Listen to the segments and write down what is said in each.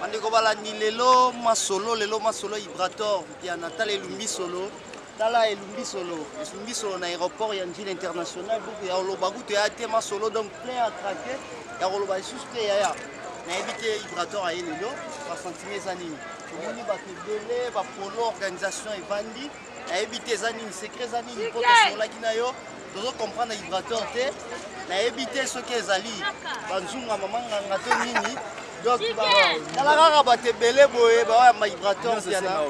bandeko balandi lelo masolo lelo masolo ya ibrator mpiana tala elumbi solo tala elumbi solo elumbi solo na aéroport ya njili international buku ya oloba kutu ya te masolo donc plein ya trake ya koloba lisusu te yaya nayebi te ibrator aye lelo basentime eza nini omoni bato ebele bapolo organisation evandi nayebi te eza nini secret eza nini mpo tosolaki na yo tozo comprendre vibrateur te nayebi te soki ezali banzungu ya mama nganga to nini donc tala kaka bato ebele boye baoyamba vibrateur piana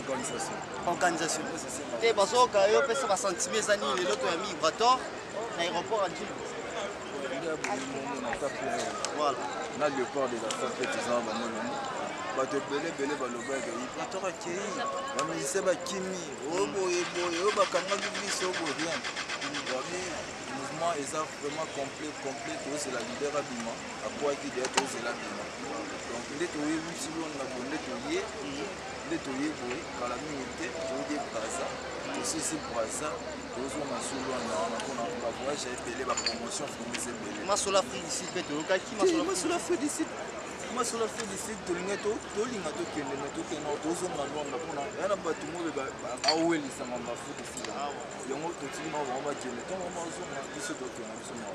organisation te bazoyoka yo pesa basentime eza nini lelo toyambi vibrateur na aéroport ya njili na leopard de la santé tozala bamoloni bato ebele ebele balobaki patoko akei bamusicien bakimi oyo boye boye oyo bakangaki biso oyo boye rien babi mouvement eza vraiment complet complet tozela lider abima akwaki deya tozela abima donc nde toyebi silo na boye nde toye nde toye boye kala mingi te toyede braza tosisi braza masolo afridiside mpe toyokaki masolo afridiside masolo afridiside tolinga tolinga tokende me tokenda tozonga lwanda mpona ya na bato moyo bawelisama bafridiside yango totiki mao bango bakende ntango bazonga biso tokenda biso mao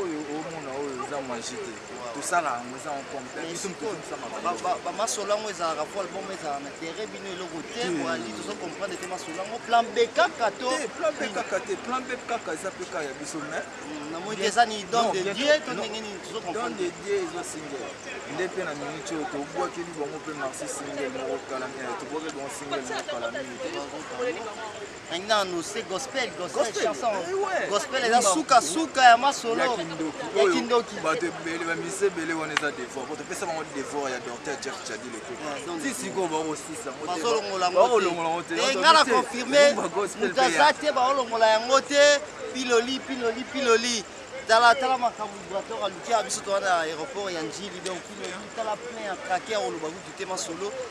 oyo omona oyo eza magie te tosala yango eza bamasolo yango ezalaka po album ezala na tere bino eloko te ali tozo comprendre te masolo yango plan b kaka to plan b kaka te plan b kaka eza mpe kaka ya biso mai mm, namoni eza ni don de dieu to ndenge nini tozo comprendre don de dieu eza single nde mpe na minute oyo tobwakeli bango mpe marsi single moko kala mingi tobwakeli bango single moko kala mingi Maintenant, nous c'est gospel, gospel, gospel, chanson. Eh ouais. Gospel eza suka suka ya masolo. Ya kindoki. Ya kindoki. Ba te bele ba mise bele wana eza devoir. Ko te pesa bango devoir ya docteur Jeff Chadi le ko. Si si ko ba ko sisa. Ba so longola ngo. Ba longola ngo te. Et ngala confirmer. Mutaza te ba longola yango te. Piloli piloli piloli. tala tala makambo brator aluki ya biso towana aéroport ya njili donc piloli tala plein ya traquer oloba kutu te masolo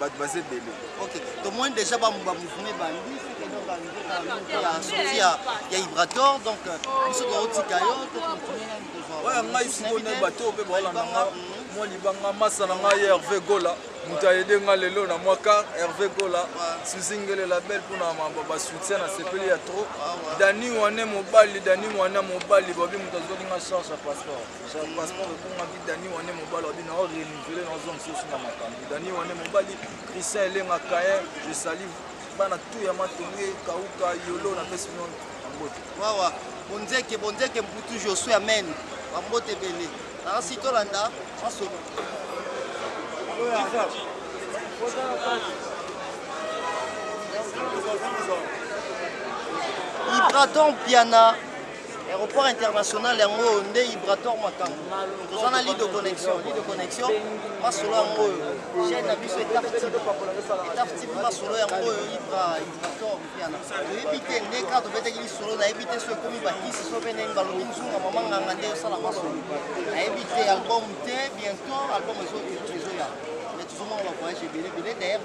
bato baza ebele ok tomoni déjà bamouvement ebandi ya ibrator donc euh, biso tokotika yo oya ngai sikoyo na bato oyo mpe baolanda nga mwa libanga masa na ngai ya herve gola moto ayede nga lelo na mwa car herve gola suzingele label mpona basoutien na sepeli ya trop ah, dani wane mobali dani wana mobali bobi moto azwaki nga charge ya passeport passeport ekongaki dani wane mobali wabi nao renouveler naozwa mosusu na makambo dani wane mobali christian elenga kaye je sali bana tu ya matonge kauka yolo na pesi bino mbote wawa bonzeke bonzeke mputu josue amen bambote ebele nasi tolanda masolo ibraton piana Aeroport international yango oyo nde Ibrator Makambo. Toza na ligne de connexion, ligne de connexion masolo yango oyo. Chaîne na biso etaf type. Etaf type masolo yango oyo Ibra Ibrator Mpiana. Toyebi te nde kaka tobetaki lisolo nayebi te soki ekomi bakisi soki mpe ndenge balobi nzunga mama nganga nde osala masolo. Nayebi te album te bientôt album ezo ezoya. Mais tozomona ba voyage ebele ebele d'ailleurs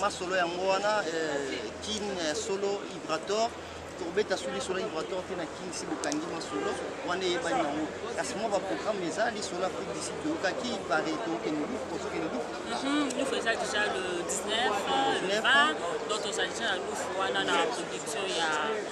Masolo yango wana eh, kin eh, solo Ibrator kobeta sous lisolo ya Ibrator te na kin si bokangi masolo wana eyebani yango kasi mwa baprogramme eza lisolo Afrique d'ici toyokaki pare tokende lufu tozokende lufu mhm, lufu eza déjà le 19 le 20 donc tozali déjà na lufu wana na production ya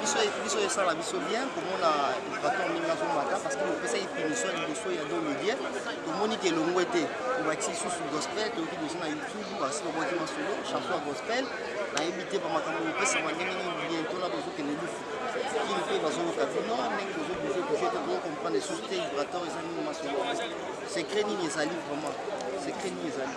biso biso esala biso bien komona baton ndenge azomata parce que opesaki punition liboso ya domedie tomoni ke elongwe te obakisi lisusu gospel toyoki liboso na youtube basi babwaki masolo chanson ya gospel nayebi te bamakambo opesama ndenge nini biento na bozokende lufu kini mpe bazoyoka bino ndenge bozobouge bouge te bozo comprendre lisusu te vibrator eza nini masolo secret nini ezali vraiment secret nini ezali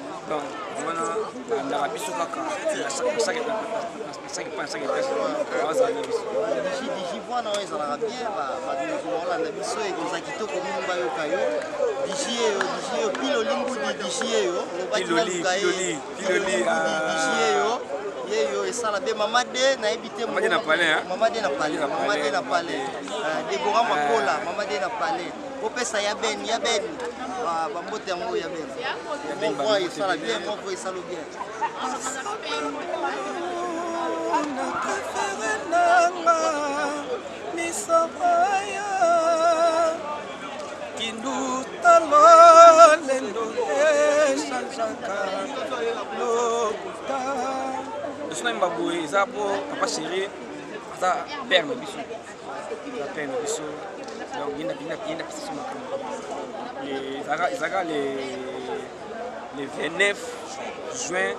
donc wana bandaka biso kaka digivoana oyo ezalaka bien baolanda biso ekozala kitoko mingi bayoka yo digi eyo digi eyo pile olingudi digi eyo lobakilaluka ye digi eyo yeyo esala be mama de nayebi te mama de na palais mama de na palais debora makola mama de na palais kopesa ya ben ya ben bambote yango ya ben moko esala bien moko esalo bien na prefere nanga misobaya kindutalo lendo echangeaka lokuta biso na mbaboye eza po papa chéri aza père na biso ezalaka le 29 juin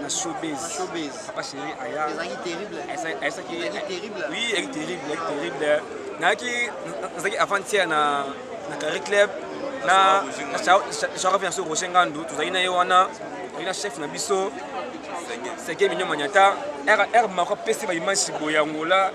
na showbiz showbiz papa chéri aya ezalaki terrible ezalaki terrible oui ezalaki terrible ezalaki terrible nayaki nazalaki avant-hier na na carré club na sharafi na so roger ngandu tozalaki na ye wana tozalaki na chef na biso seke minyo manyata r mako apesi baimage boye yangola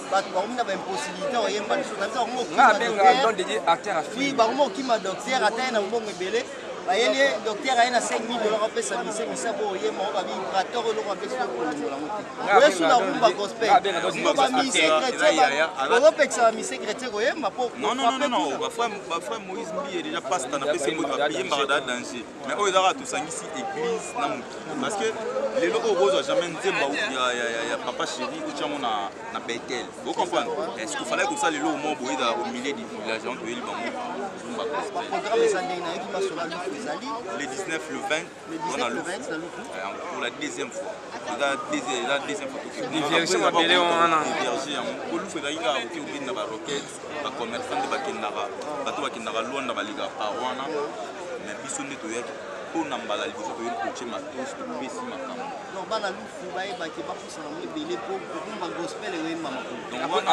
bato bakomi na baimpossibilité oyemba lisusu na biso bakomi okima docteur ata ye na mbongo ebele bayeli ye docteur aye na 5000 dollars apesa mise mise po oyemba oyo babi prator eloko apesi okolongola ngo te oyesu na rumba gospel sino bamise chrétien ozopekisa bamise chrétien koyemba po bafrère moïse mbiye deja pasta na pesi moto apiyembaka da danger mais oyo ezaka tosangisi église na mokili parce que lelo oyo okozwa jamais nzemba ya papa chéri otyango na betel ocomprendre est-ce que falaki kosala lelo omo boye ezala au milieu du village yango toyeli bango zumba le 19 le 20 wana luku pour la deuxième fois eza deuxième fois tokeverge yango kolufu ezalaki kaka koke obini na baroquette bacommerçant nde bakendaka bato bakendaka lwanda balekaka par wana me biso nde toyaki mpo na mbala liboso toyeli kotie matos topesi makambo bana lufu bayebaki bapusana mo ebele mpo kokumba gospel eyemba makobanamoni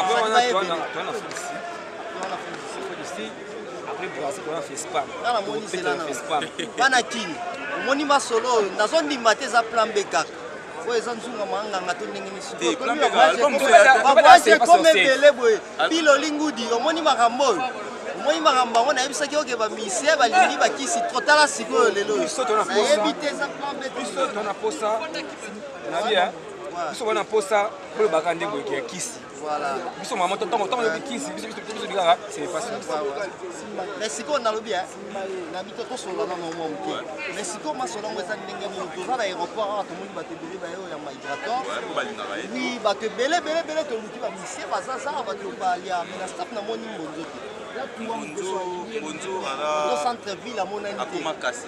bana kini omoni masolo oyo nazondima te eza plan be kaka oyo eza nzunga manganga to ndenge nisibaboyaki ekoma ebele boye biloli ngudi omoni makambo oyo omoni makambo yango nayebisaki oke bamisie balingi bakisi tro tala sikoyo lelo nayebi te eza plan biso tona posa biso wana posa bolobaka nde boyeke ya kisi Voilà. Biso maman tango tango tobi kisi biso biso biso bikaka c'est facile. Mais siko nalobi hein. Na bito to solo na mwa mke. Mais siko ma solo ngo ezali ndenge nini toza na aéroport awa tomoni bato ebele ba yo ya migrateur. Oui, bato ebele ebele ebele toluki ba misie baza za bato balia mais na staff na moni mbonzo te. Bonjour, bonjour, ala. Au centre ville à mon ami. Akoma kasi.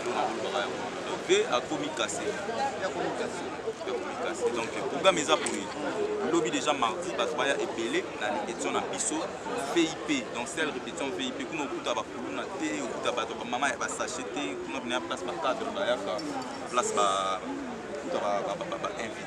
Eloko bolobaka yango wana. Donc ve akomi kase. Ve akomi kase. Ve akomi kase. Donc programme eza boye. Lobi déjà mardi bato baya ebele na répétition na biso VIP. Donc c'est la répétition VIP. Kuna okuta ba kuluna te, okuta bato ba mama ya ba sachet te, kuna kuna place ba cadre ba yaka, place ba okuta ba ba ba, ba, ba invité.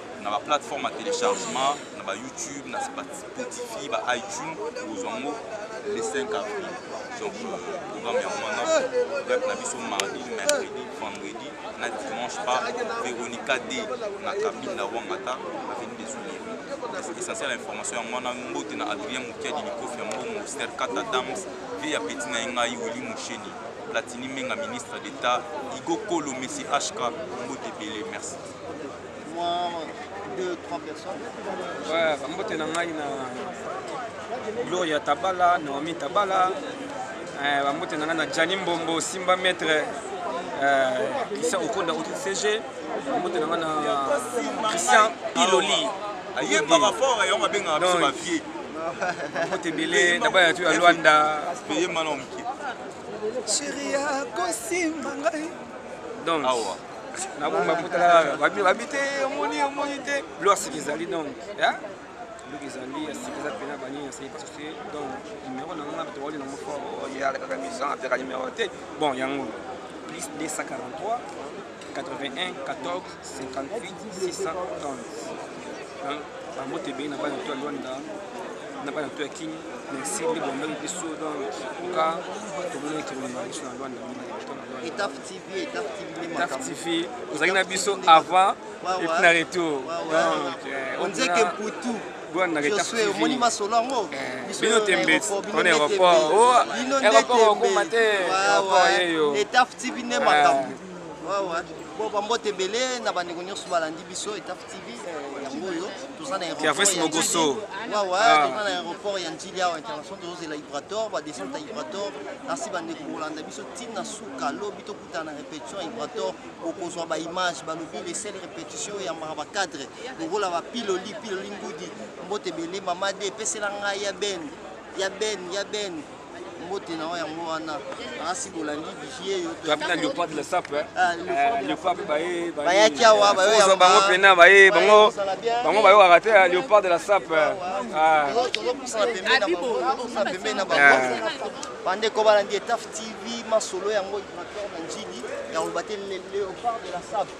na ba plateforme ya téléchargement na ba youtube na spotify ba itunes kozwa yango le 5 avril donc programme yango wana rep na biso mardi mercredi vendredi na dimanche pa véronica d na kabine na wangata aveni des olive essentiel ya information yango wana mbote na adrien mokiadi likofi ya mbongo ster kata dams vie ya peti na ye ngai wili mosheni platini menga ministre d'état igo kolo messi hk mbote ebele merci mbote na ngai na gloria tabala naomi tabala eh, bambote na ngai na jani mbombo simba maître eh, christian okonda autre cg bambote na ngai na christian piloli ayebaka fort yango babengaka biso bavie mbote ebele na baya tu ya lwanda peye mana moke sheri akosimba ngai donc nabongi bapotala babi te omoni omoni te lo asiki ezali donc loki ezali asiki eza pena banini naseki parce que donc numero na ngai towali nango fort oyalekaka mission apeka numero te bon yango plus 243 81 14 58 630 bango te ebei na bana to ya lwanda na bana to ya kin na esili bondaki biso donc oka tomonaki kilomema biso na lwanda mingi to na lwanda Taf TV, ozalaki na biso avant et puis na retour. Donc, onzeke mputu josue omoni masolo yango bino tembeti on aéroport bino nde tembeti etaf tv nde makambo po bambote ebele na bandeko nyonso balandi biso etaf tv eh, yango oyo toza na aéroportmokoso wawa ah. toza na aéroport ya njili awa international tozozela ibrator badescente ya ibrator nasi bandeko kolanda biso ntina Ka lobi to kutana na repetition Ibrator okozwa ba image ba lobi les seules repetitions ya mara ba cadre lokola ba piloli piloli ngudi mbote bele mama de pesela ngai ya ben ya ben ya ben mbote na oyo yango wana asi bolandi vigie yo topina leopard la sape eh? ah, eh, leopard baye bayaki awa bayo bango pena baye bango bango bayo arate eh, leopard la sape ah. ah. Bandeko balandi Etaf TV, masolo yango Ibrator na Njili, ya koloba te le léopard de la sable.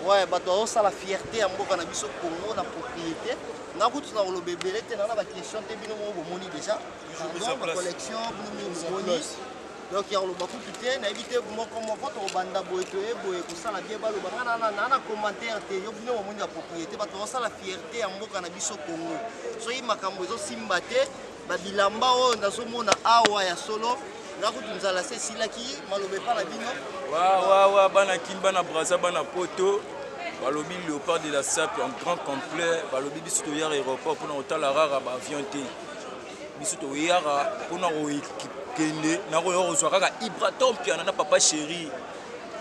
Ouais, bato bazosala fierté ya mboka na biso Congo na propriété. Na kutu na koloba ebele te, na na ba question te bino moko bomoni déjà. Pardon, ba collection bino moko bomoni. Donc ya koloba kutu te, nayebi te moko moko tokobanda boye toye boye kosala bien baloba nga na na na commentaire te, yo bino bomoni ba propriété, bato bazosala fierté ya mboka na biso Congo. Soki makambo ezosimba te, Ba bilamba oyo nazomona awa ya solo na kutu nzala se esilaki maloba epa na bino wawawa bana kin bana braza bana poto balobi léopard de la sape en grand complet balobi biso toyaka aéroport mpona kotala rara baavion te biso toyaka mpona kokende na koya kozwa kaka ibratompiana na papa chéri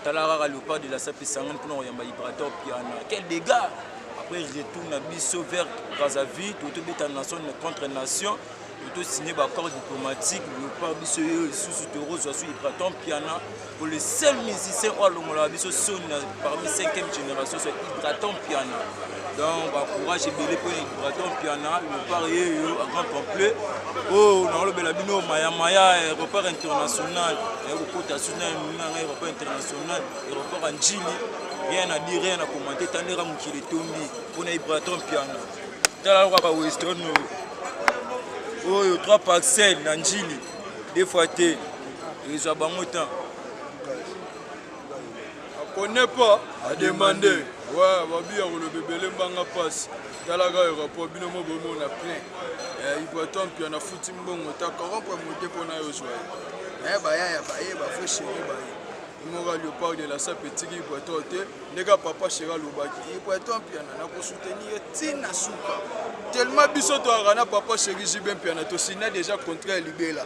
Tala kaka Leopard de la Sape Isangani mpona koyamba Ibrator Piana. Quel dégât! Après retour na biso vers Brazzaville, totobeta nation contre nation. tosigne baaccord diplomatique lopa biso yo lisusu tokozwa so hypraton piana po le seul musicien oyo alongolaka biso soni na parmi 5e génération so hypraton piana donc ba courage ebele mpo na braton piana lepart yeyo en grand complet oyo oh, nakolobela bino mayamaya aéroport international naye kokota suna emina ngai aéroport international aéroport ya njili rien na dire rien na commente tandeka mokili etondi mpo na ibraton piana tala loka ba western oyo oyo 3 parcelle na njili deux fois te ezwa bango temps connais pas à demander ouais babi ya koloba ebele mbanga mpasi talaka aéroport bino mo bomona plein ibraton mpia na futi mbongo ta corrompre mote mpo na yo ozwa ye baya ya baye bafrai chéri baye mora leopard de la sape etiki ibraton te ndeka papa chéri alobaki ibraton mpiana na kosoutenir ye ntina suka tellement biso toyaka na papa chéri jibe mpiana tosina déjà contrat ya libela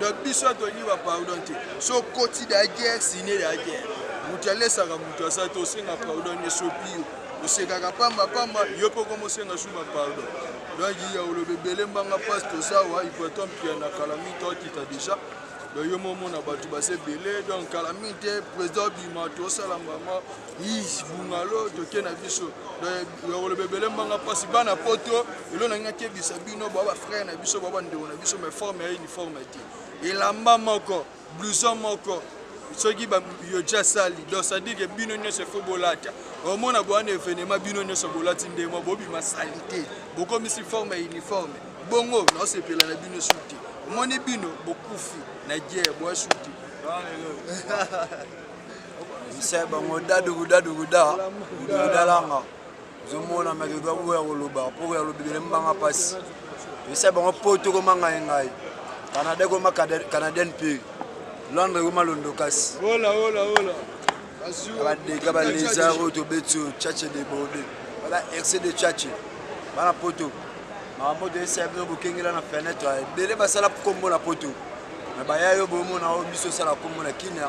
donc biso tolingi ba pardon te so koti da guerre sine da guerre moto alesaka moto aza te osenga pardon esopi yo osekaka pamba pamba yo mpe okomosenga su ba pardon donc ya oloba ebele mbanga mpasi toza wa ipaton pia na kala mingi tokita deja donc yo momona bato baza ebele donc kala mingi te président bima tosala mama Ish, bungalo toke na biso yakoloba ebele mbanga mpasi bana poto elo nangi nakebisa bino bwa bafrere na biso bwa bandeko na biso mai forme ya uniforme te elamba moko blouson moko soki yoja sali donc sadike bino nyonso efo bolata omona bowana evenema bino nyonso bolati ndemo bobima salite bokomisi forme ya uniforme bongo naosepela na bino su te omoni bino bokufi na guerre bwa su te mise bango dadugudaduguda udugudalanga ozomona meke oza boya koloba mpo okoya kolobibele mbanga mpasi mise bango poto ekoma ngai ngai canada ekoma canadienne mpe londre ekoma londokasi badeka balesar oyo tobeti oyo chache de borde bala rc de chache bana poto makambo toyesaya bino bokengela na fenetre ebele basala nkombo na poto me baya yo bomona oyo biso osala nkombo na kina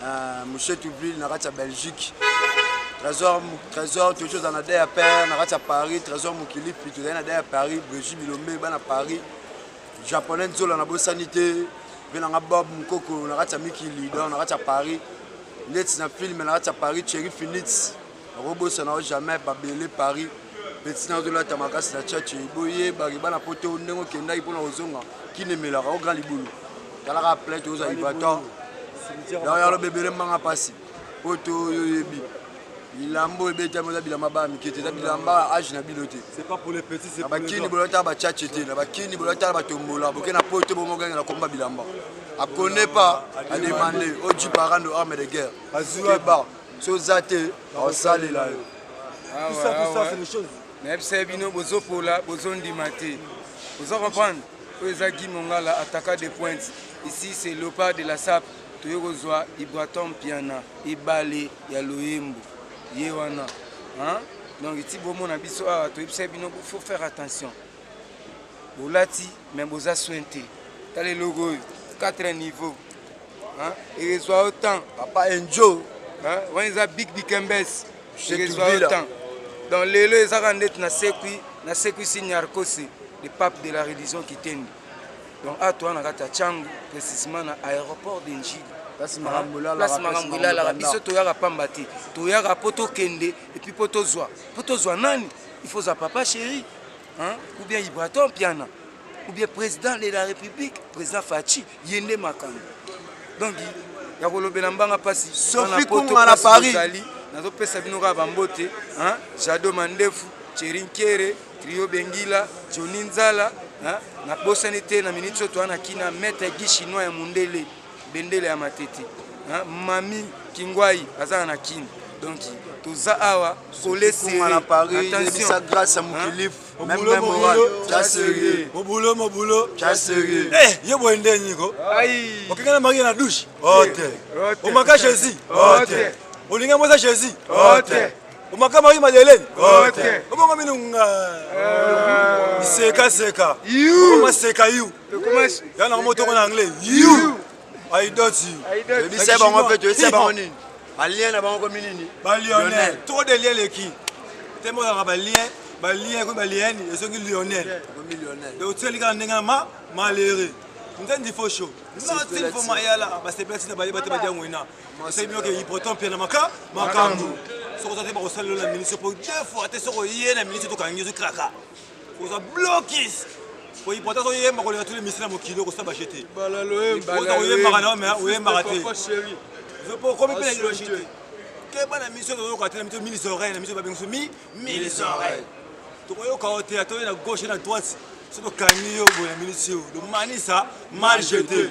Uh, Mouche Toubil na kati ya Belgique. Trésor, Trésor toyoki ozala na dea père na kati ya Paris. Trésor Mokilipi tozali na dea Paris. Brigitte Bilombe bana Paris. Japonais Nzola na bosani te. Mpe na nga Bob Mokoko na kati ya Mikili donc na kati ya Paris. Ndeti na film na kati ya Paris Cherry Phillips. Nakobosana yo jamais babele paris petit nazo lata makasi na tchatche boye baki bana poto ndenge okendaki pona kozonga kin emelaka o grand libulu talaka plein toza ibator yao yalo bebele mbanga pasi poto yo yebi bilamba oyo ebetami oza bilamba bana mike te eza bilamba age na bino te na bakini bolotala bachache te na bakini bolotala batombola boke na poto bomogange na komba bilamba akone pa ademande oji parando arme de guerre keba soki oza te bakosalela yo nayebisa ye bino bozopola bozondima te oza comprendre oyo eza gi mongala ataka de pointe ici c'est lopa de la sape toye kozwa ibraton mpiana ebale ya loyembo ye wana donc eti bomona biso awa toyebisa bino faut faire attention bolati mais boza soin te tala eloko oyo 4 niveau Hein? Il est au temps. Papa Enjo. Hein? On est à Big Big Mbes. Il est au temps. Donc lelo ezaka ndeti na sekui na sekui signarkosi le pape de la religion kitendi donc a toi na kati ya changu précisément na aéroport de njili place makambo elalaka biso toyaka pamba te toyaka mpo tokende epuis mpo tozwa mpo tozwa nani il faut za papa chéri ou bien ibraton piana ou bien président de la république président faci Yende makambo. Donc ya kolobela mbanga pasi. Sophie Kunga na Paris. Nazopesa bino kaka bambote, hein? Jado Mandefu, Cherinkere, Trio Bengila, Johnny Nzala, hein? Na bosani te na minute soto ana kina maître Guy chinois ya mundele, bendele ya matete. Hein? Mami Kingwai azana na Kin. Donc toza awa kolese na Paris, attention. Grâce à Mukilifu. Même même moral, t'as sérieux. Mon boulot, mon boulot, t'as sérieux. Eh, yo boy ndé niko. Aïe. Okenga na marie na douche. Ote. Omaka Jésus. Ote. Olinga moza Jésus. Ote. Omaka marie Madeleine. Ote. Omonga minu nga. Seka seka. You. Oma seka you. Yana moto ko na anglais. You. Aidoti. Yebisa bango mpe toyebisa bango nini balien na bango komi nini balionel trop de lien leki te mozalaka balien balien ekomi balieni ezongi lionel donc otieli kaka ndenge ma malere nzendi fo sho natin fo mayala basepelati na bayeba te badia ngwena esayi bino ke ipoton mpe na maka makambo soki oza te bakosalelo na ministre mpo deux fois te soki oye na ministre tokangi ozokraka oza blokis po importance oyemba koleka tuli misila mokili okosala baje te ota oyembaka nao mai oyembaka te okomi mpe na ideologie te keba na miso toyoka te na miso mille oreille na miso babengiso mi mille oreille tokoyoka yo te atoye na gauche na droite so tokangi yo boye na minisi yo lomanisa mal jete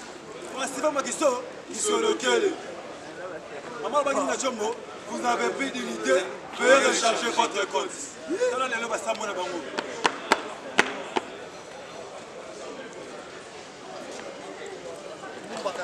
Festival Makiso, Kisolokele. Maman Baki na Chombo, vous n'avez plus d'unité, veuillez recharger votre compte. Tala lelo ba sambo na bango. Mbaka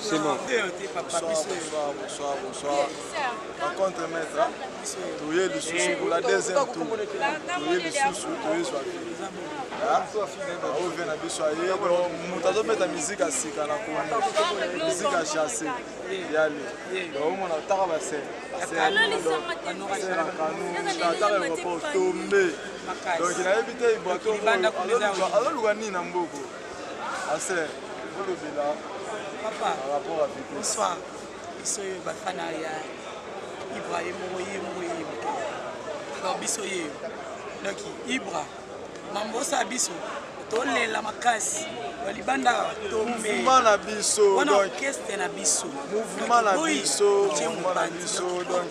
C'est bon. Bonsoir, bonsoir, bonsoir. Par contre, maître, tu es le sous pour la deuxième tour. Tu es le sous, tu es soif. ovie na biso aye moto azobeta miziki ya sika na kongo miziki ya chasse yale omona otaka basere ataka eropo tombe donc nayebi te ibwatololuka nini na mboko Aser, olobela papa par rapport à Vitesse. Bonsoir. Biso yo bafana ya Ibra ye moko ye moko ye moko. Alors biso ye yo. Donc Ibra mambosa biso tolela makasi balibanda tombe na biso wana orchestre na biso mouvement na biso mouvement na biso donc